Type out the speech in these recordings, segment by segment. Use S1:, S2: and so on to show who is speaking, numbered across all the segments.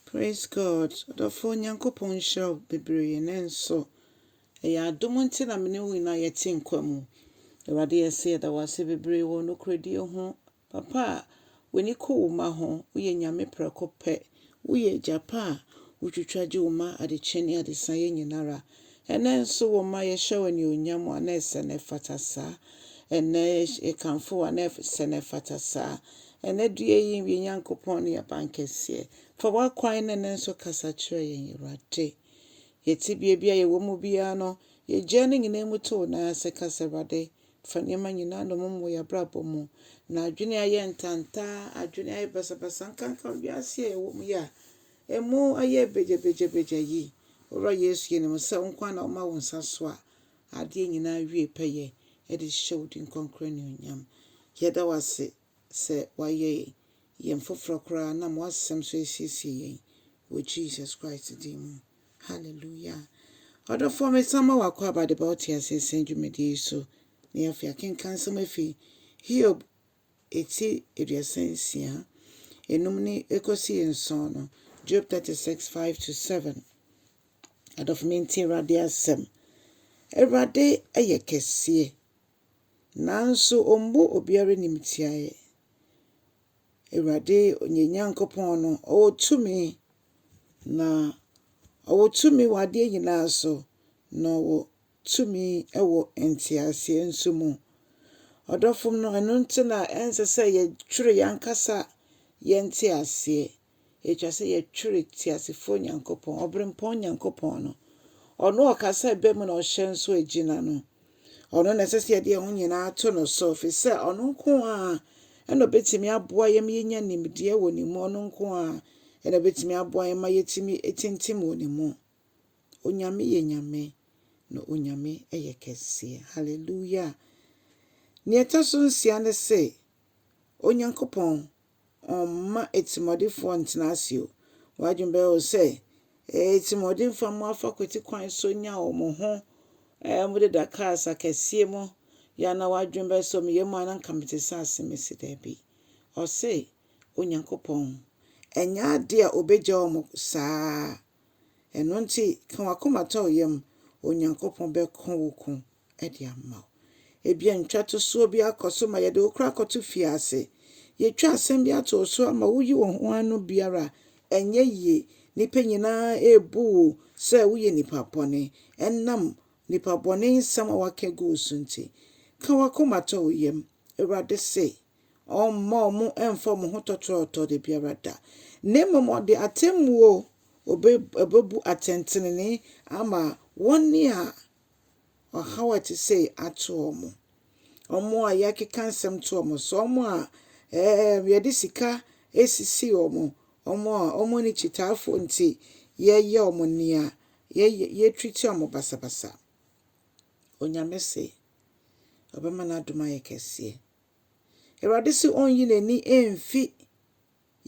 S1: Praise God ɔdɔfoɔ Nyankopɔn nhyira wo bebree nanso ɛyɛ adom nti na mene wo nyinaa yɛte nkwa mu Awurade yɛse yɛda wase bebree wɔ nokorɛdie ho papa a w'ani kɔ wo ma ho woyɛ Nyame prɛko pɛ woyɛ agya pa a wotwitwa gye wo ma adekye ne adesaeɛ nyinara Ɛnnɛ nso wo mma yɛhyɛ wo anuonyam wo a na ɛsɛ na ɛfata saa. Ɛnnɛ yɛkamfo wo a na ɛsɛ na ɛfata saa. Ɛnnɛ due yi yɛn Nyankopɔn ne yɛn Abankɛseɛ, fa w'akwan ne nne so kasa kyerɛ yɛn Awurade. Yɛn tebea bi a yɛwɔ mu biara no yɛgyae ne nyinaa mu to wo nan ase ka sɛ Awurade fa nneɛma nyinaa nnommum wɔ yɛn abrabɔ mu. Na adwene a ɛyɛ ntantaa, adwene a ɛyɛ basabasa nkanka wiase a yɛwɔ mu yi a Emu ayɛ begyabegyabegya yi, Owura Yesu, yɛnim wo sɛ wo nko ara na woma wo nsa soa adeɛ nyinaa wie pɛyɛ de hyɛ wo din kronkron anuonyam. Yɛda wo ase sɛ woayɛ yɛn foforɔ koraa nam w'asɛm so asiesie yɛn wɔ Jesus Christ din mu. Hallelujah. Ɔdɔfoɔ, mesan ma wo akwaaba de ba wo teaseɛ sɛn dwumadie yi so. Na yɛafei akenkan nsɛm afi Hiob eti aduasa nsia, enum ne ekosi nson no, Job thirty six, five to seven. Adɔfo mintie Awurade asɛm. Awurade yɛ kɛseɛ, nanso ɔmmu obiara animtiaeɛ. Awurade yɛn Nyankopɔn no, ɔwɔ tumi, na ɔwɔ tumi wɔ adeɛ nyinaa so, na ɔwɔ tumi wɔ nteaseɛ nso mu. Ɔdɔfom no, ɛno nti na ɛnsɛ sɛ yɛtwere yɛn ankasa yɛn nteaseɛ. Ɛtwa sɛ yɛtwere teasefoɔ Nyankopɔn, ɔberempɔn Nyankopɔn no. Ɔno ɔka sɛ ɛbɛ mu na ɔhyɛ nso agyina no. Ɔno na ɛsɛ sɛ yɛde yɛn ho nyinaa to no so, ɛfiri sɛ ɔno nko a ɛna ɔbɛtumi aboa yɛn ma yɛnya nimdeɛ wɔ ne mu, ɔno nko a ɛna ɔbɛtumi aboa yɛn ma yɛtumi tintim wɔ ne mu. Onyame yɛ Nyame na Onyame yɛ kɛseɛ. Hallelujah. Nea ɛtɔ so nsia ne se, Onyankopɔn ɔmma atirimuɔdefoɔ ntena ase o. W'adwene bɛyɛ o sɛ atirimuɔdenfoɔ a wɔafa kwati kwan so nya wɔn ho eh, wɔdeda cars akɛseɛ mu yɛ na w'adwene bɛyɛ sɛ meyɛ mu a na nka mete sɛ ase mese daabi. Ɔse Onyankopɔn ɛnyɛ adeɛ a ɔbɛgya wɔn saa Ɛno nti, ka w'akoma to wo yam, Onyankopɔn bɛko wo ko de ama wo. Ebia ntwatosoɔ bi akɔ so ma yɛde wo koraa kɔto fie ase. Yɛatwa asɛm bi ato wo so ama woyi wo ho ano biara a, ɛnyɛ yie. Nnipa nyinaa rebu wo sɛ woyɛ nipa bɔne ɛnam nnipa bɔne nsɛm a woaka agu wo so nti. Ka w'akoma to wo yam. Awurade se, Ɔremma wɔn mmfa wɔn ho tɔtorɔtɔɔ da biara da, na mmom ɔde atemmuo bɛbu atɛntenenee ama wɔn a ɔhaw a ɛte sei ato wɔn, wɔn a yɛakeka nsɛm to wɔn so, wɔn a ɛɛm, yɛde sika asisi wɔn, wɔn a wɔn ani kyitaafoɔ nti yɛyɛ wɔn nea yɛyɛ yɛtwiti wɔn basabasa. Onyame se, ɔbɛma n'adom ayɛ kɛseɛ. Awurade se ɔnyi n'ani mfi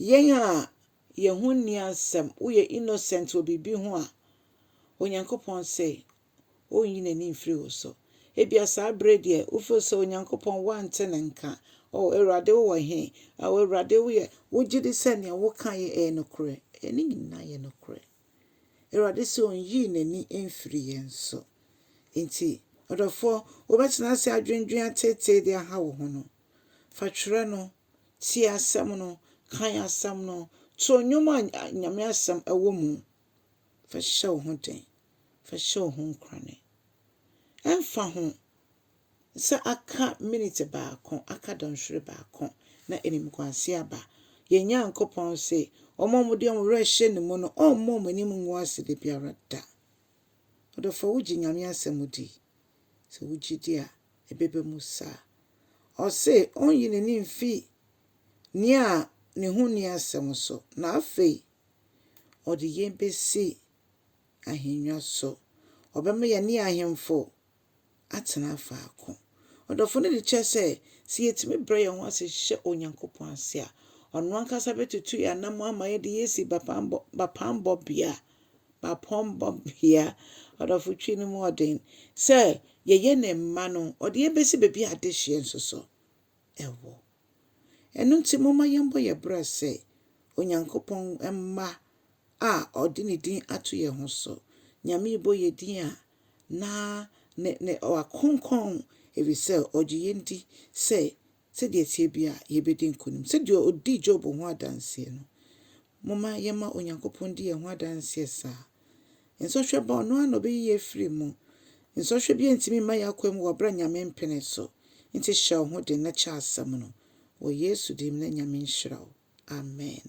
S1: yɛn a yɛn ho nni asɛm, woyɛ innocent wɔ biribi ho a, Onyankopɔn se ɔnyi n'ani mfiri wo so. Ebia saa bere deɛ wofeel sɛ Onyankopɔn wante ne nka. O Awurade wowɔ he? O Awurade woyɛ, wogye di sɛ nea woka yɛ ɛyɛ nokorɛ? Ɛyɛ ne nyinaa yɛ nokorɛ. Awurade sɛ ɔnyi n'ani mfiri yɛn so. Enti, ɔdɔfoɔ, wobɛtena ase adwendwen ateetee de aha wo ho no, fa twerɛ no, tie asɛm no, kan asɛm no, to nnwom a Nyame asɛm wɔ mu. Fa hyɛ wo ho den. Fa hyɛ wo ho nkorane. Ɛmfa ho sɛ aka minute baako, aka dɔnhwere baako na animguase aba. Yɛn Nyankopɔn se, Wɔn a wɔde wɔn werɛ hyɛ ne mu no, ɔremma wɔn anim ngu ase da biara da. Ɔdɔfoɔ, wogye Nyame asɛm di? Sɛ wogye di a, ɛbɛba mu saa. Ɔse ɔnyi n'ani mfi nea ne ho nni asɛm so, na afei ɔde yɛn besi ahennwa so. Ɔbɛma yɛne ahemfo atena faako. Ɔdɔfo no de kyerɛ sɛ, sɛ yetumi brɛ yɛn ho ase hyɛ Onyankopɔn ase a, ɔno ankasa betutu yɛn anammɔn ama yɛde yɛn asi bapammɔ, bapammɔbea, bapammɔbea, ɔdɔfo twi no mu ɔden, sɛ yɛyɛ ne mma no, ɔde yɛn besi baabi a adehyeɛ nso so. ɛwɔ. Ɛno nti, momma yɛmmɔ yɛn bra sɛ Onyankopɔn mma a ɔde ne din ato yɛn ho so. Nyame bɔ yɛn din a, na ne ne wakronkron, ɛfiri sɛ ɔgye yɛn di sɛ sɛdeɛ ɛteɛ biara yɛbɛdi nkonim. Sɛdeɛ ɔdii Job ho adanseɛ no, Momma yɛmma Onyankopɔn ndi yɛn ho adanseɛ saa. Nsɔhwɛ ba a, Ɔno ara na Ɔbɛyi yɛn afiri mu. Nsɔhwɛ biara ntumi mma yɛn akwan mu wɔ berɛ a Nyame mpene so. Nti hyɛ wo ho den na kyɛ asɛm no. Wɔ Yesu din mu na Nyame nhyira wo. Amen.